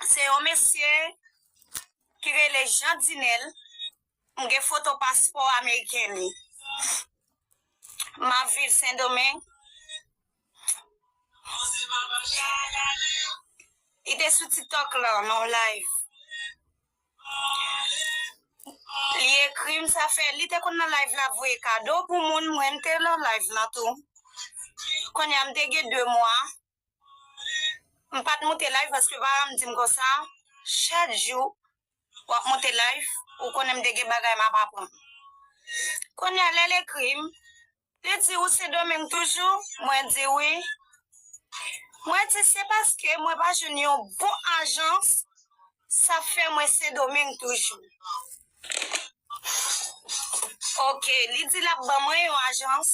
Se yon mesye ki rele Jean Dinel, m gen foto paspò ameriken li. M ap viv Sendomeng. Li te sou tiktok lan nan yon live. Li ekri m sa fè, li te konn nan live la voye kado pou moun, mwen m te nan live lan tou. Kounya m te gen 2 mwa. M pat moute live paske Varam dim konsa chak jou wap moute live ou konnen m te gen bagay map aprann kounya lèl ekrim li di ou se domeng toujou mwen di wi mwen di se paske mwen pa jwenn yon bon ajans sa fè mwen se domeng toujou ok li di lap ban mwen yon ajans.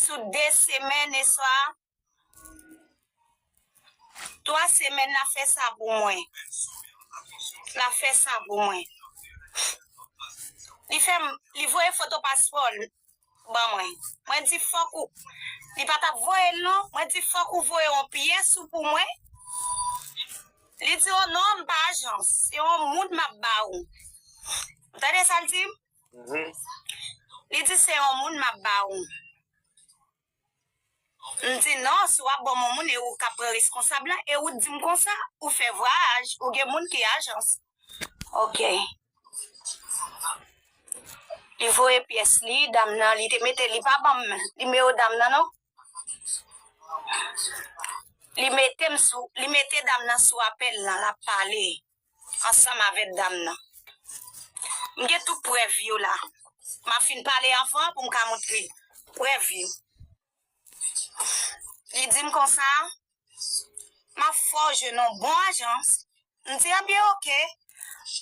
Sou 2 semèn e sa 3 semèn la fè sa pou mwen. La fè sa pou mwen. Li fèm li voye foto paspòl ban mwen. Mwen di fòk ou li pa tap voyel non. Mwen di fòk ou voye yon pyès ou pou mwen. Li di oh non m pa ajans se yon moun map ba ou. Ou tande sal dim? Li di se yon moun map ba ou. M di non si wap banm yon moun e ou kap pran reskonsab la e ou t dim konsa ou fè vwayaj ou gen moun ki ajans. Ok. Li voye pyès li dam nan li te mete li pa banm nimewo dam nan non. Li mete dam nan sou apèl lan lap pale. ansanm avèk dam nan. M gen tout prèv yo la. M ap fin pale anvan pou m ka montre prèv yo. Li di m konsa, M ap fè w jwenn yon bon ajans. M di, Ebyen oke,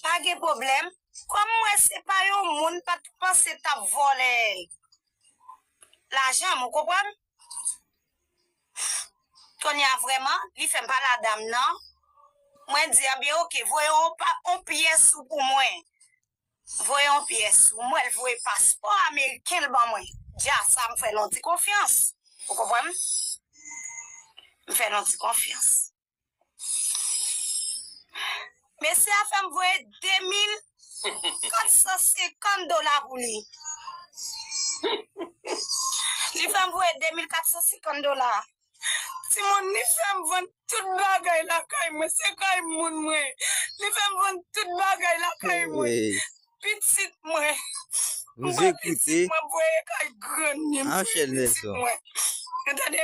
pa gen pwoblèm. Kòm m wè se pa yon moun m pa t panse t ap vòlè lajan m, ou konprann? Tonya vreman li fem pale a dam nan mwen di a byen ok voye yon pa yon pyes ou pou mwen voye yon pyes ou mwen li voye paspò ameriken li ban mwen dja sa mfel yon ti konfyans ou konprann mfel yon ti konfyans. Mesye a fè m voye 2450 dola pou li. Li fè m voye 2450 dola. Ti moun li fè m vann tout bagay la kay mwen. Se kay moun mwen. Li fè m vann tout bagay la kay mwen. Pitit mwen. Mwen voye pitit mwen voye kay grann ni m. Mwen voye pitit mwen. Entende?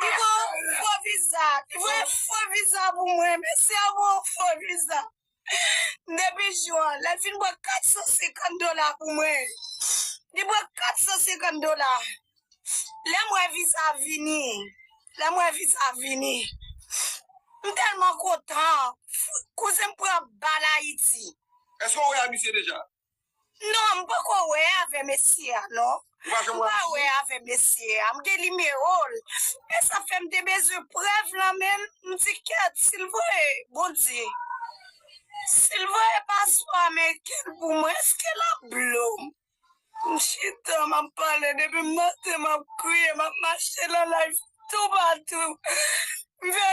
Kiko fo viza kiko fo viza pou mwen mesi anmou fo viza depi jou an lèl fin pran 450 dola pou mwen li pran 450 dola lèm wè viza vini lèm wè viza vini m telman kontan kouzen m pran bal ayiti. Eske ou wè a misye deja? Non m poko wè avè mesye a non. Ou pa janm wè avèl? M pa wè avè mesye a. M gen nimewo l. Men sa fè m te bezwen prèv lan men l. M di kèt si l voye Bondye. Si l voye paspò ameriken l pou mwen èske l ap blo m? M chita m ap pale depi m nan tè m ap kriye m ap mache nan live toupatou. M fè.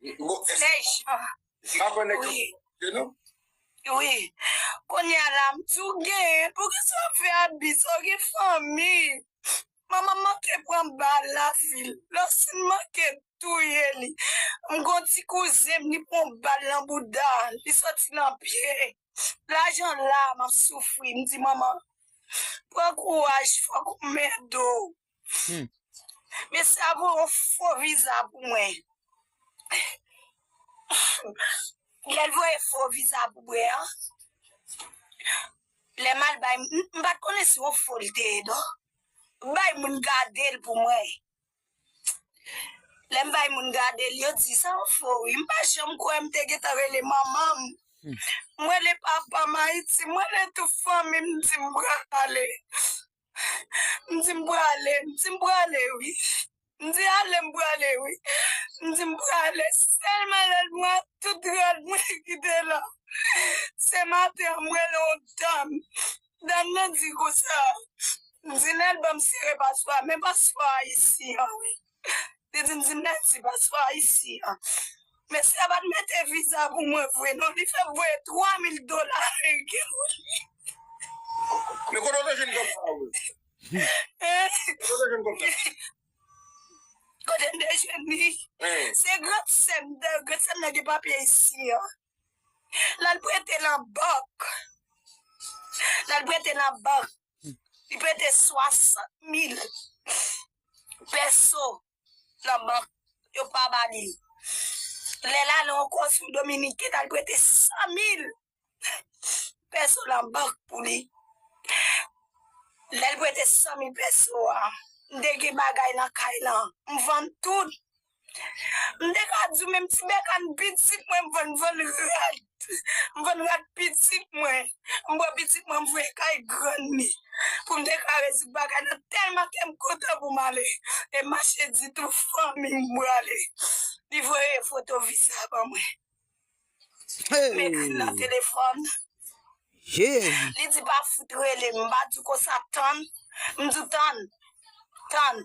Flèch Wi Kounye a la m di w gen Pouki sa w ap fè abis Ou gen fanmi Manman manke pran bal nan vil Lòsine manke touye li M gon ti kouzen m li pran bal nan bouda Li soti nan pye Lajan la m ap soufri M di manman Pran kouraj fòk ou mède w Humm. Mesi a pou yon fo viza pou mwen. Lel voye fo viza pou mwen an. Lem al bay moun. M pat konnen se yon fo li te ye non. M bay moun gadel pou mwen. Lem bay moun gadel yo di sa yon fo wi. M pa janm kwe m te gentan rele manmanm. M rele papam ayiti. M rele tout fanmim m di m prale. M di m prale, m di m prale wi M di ale m prale wi M di m prale Sèlman lè l pran tout rad mwen ki te la Se maten an m wè l on dam Dam nan di konsa M di l al banm sere paswa Men paswa a isi an wi Li di m di mèsi paspò ayisyen an. Mesye a pa t mete viza pou mwen vre non, li fè m voye 3 mil dola ameriken pou li. Men kote w te jwenn kòb sa a vre? Kote w te jwenn kòb sa a? Kote m te jwenn li? Se gran sè m, gran sè m nan gen papye isi an. L al prete nan bank. L al prete nan bank. Li prete 60 mil pèso nan bank, yo pa ba li. Lè l ale yon konsil dominiken, l al prete 100 mil pèso nan bank pou li. Lè l prete 100 mil pèso a, m te gen bagay nan kay lan, m vann tout. M te ka di w menm ti bèkàn pitit mwen m vann vann rad. M vann rad pitit mwen. M pran pitit mwen m voye kay grann li pou m te ka rezoud bagay nan tèlman kè m kontan pou m ale. E mache di tout fanmi m m prale. Li voye foto viza a ban mwen. M ekri l nan telefòn. Li di pa fout rele m. M pa di w konsa tann. M di w tann. Tann.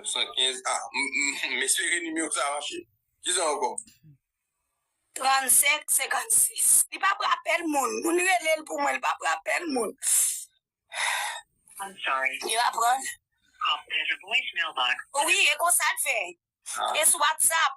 915 ah m espere nimewo sa mache. Kisa ankò? 35 56 li pa pran apèl moun. Moun rele l pou mwen li pa pran apèl moun. Li pa pran. Wi e konsa l fè. E sou whatsapp.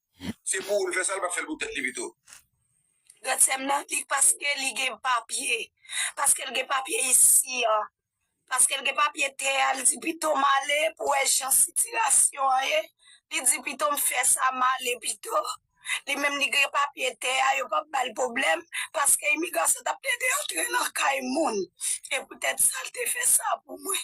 Se pou ou l fè sa, l pa fè l pou tèt li pito. Gad sèm nan ki paske li gen papye, paske l gen papye isi a, paske l gen papye tè a, li di pito m ale pou wè jan sitirasyon an ye, li di pito m fè sa m ale pito, li menm li gen papye tè a yo pap ba l pwoblèm, paske imigrasyon tap tente antre nan kay moun, se poutèt sa l te fè sa pou mwen.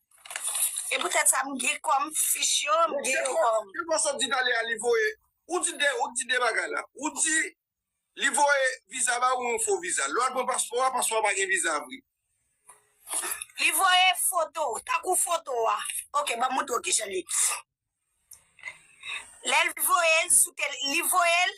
E pou tèt sa m gen kòm fich yo, m gen yo kòm. Ke pase di tale a li voye, ou di de, ou di de bagay la. Ou di li voye viza ba ou yon fo viza. Lè w al pran paspò a, paspò a pa gen viza a vre. Li voye foto, tankou foto a. Ok, ban m montre w kijan li. Lè l voye l sou tel, li voye l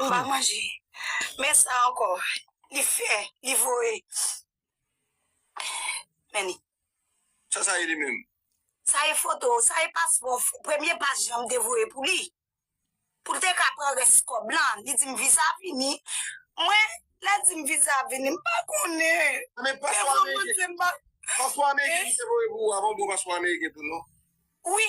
M pa manje. Men sa ankò, li fè, li voye. Men li. Sa sa ye li menm? Sa e foto, sa e paspò, premye pas jan m te voye pou li. Pou l te ka pran rès kòb lan. Li di m viza a vini. Mwen, lè l di m viza a vini, m pa konnen. Men paspò ameriken. Paspò ameriken li te voye pou ou a, pa yon bon paspò ameriken tou non? Wi.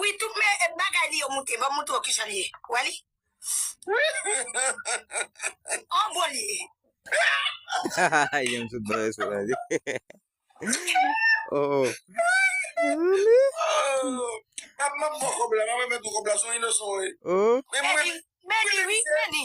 Wi tout men bagay li yo moute banm moutre w kijan l ye wè li an bon li ye. Beni wi beni.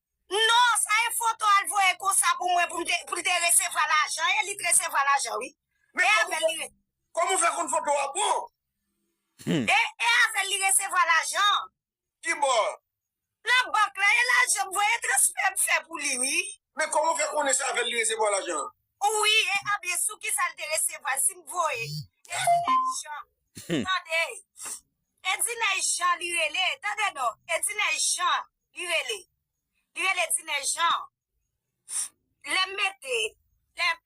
Non sa e foto al voye konsa pou mwen pou l te resevwa lajan e li t resevwa lajan wi e avèl li resevwa. Kòman ou fè konn foto a bon? E avèl li resevwa lajan. Kibò? Nan bank la e lajan m voye transfè m fè pou li wi. Men kòman ou fè konnen se avèl li resevwa lajan? Wi e anbyen sou kisa l te resevwa l si m voye Ediney Jean tande Ediney Jean li rele tande non Ediney Jean. li rele li rele dinè jan lèm mete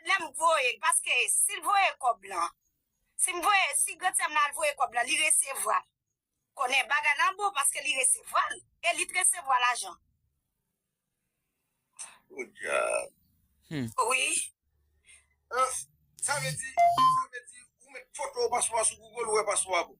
lèm voyel paske sil voye kòb lan sim voye si grand sèm nan al voye kòb lan li resevwal konnen bagay lan bon paske li resevwal e li t resevwa lajan podyab wi sa vle di sa vle di ou met foto paswa sou google ou wè paswa bon.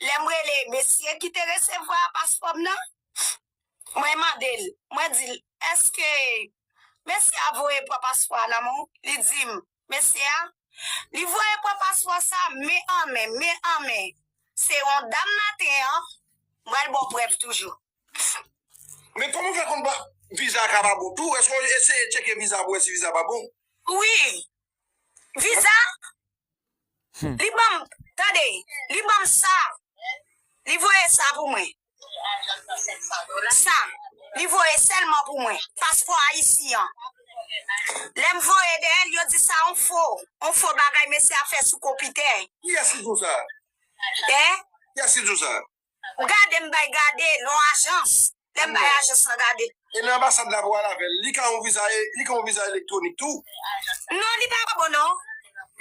lè m rele mesye ki te resevwa paspò m nan, mwen mande l, mwen di l, èske mesye a voye pran paspò a nan men w? Li di m, mesye a, li voye pran paspò sa a men an men, men an men. Se yon dam maten an, m pral ba w prèv toujou. Men kòman w fè konn viza a ka pa bon tou? Èske w eseye tcheke viza a pou w wè si viza a pa bon? Wi. Viza Li banm tande li banm sa li voye sa pou mwen sa li voye selman pou mwen paspò ayisyen an lèm voye deyèl yo di sa on fo on fo bagay mesye a fè sou konpitè. Kiyès ki di w sa? Hein? Kiyès ki di w sa? Ou gade m bay gade non ajans lè m bay ajans lan gade. E lè anbasad la vwe al avèl li ka yon viza li ka yon viza elektronik tou. Non li pa bon non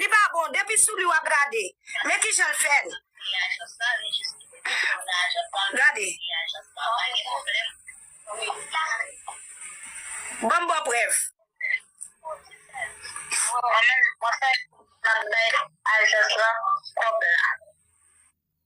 li pa bon depi sou li wap gade men kijan l fè l gade banm baw prèv. Mwen menm mwen fèk map bay ajans lan kòb la.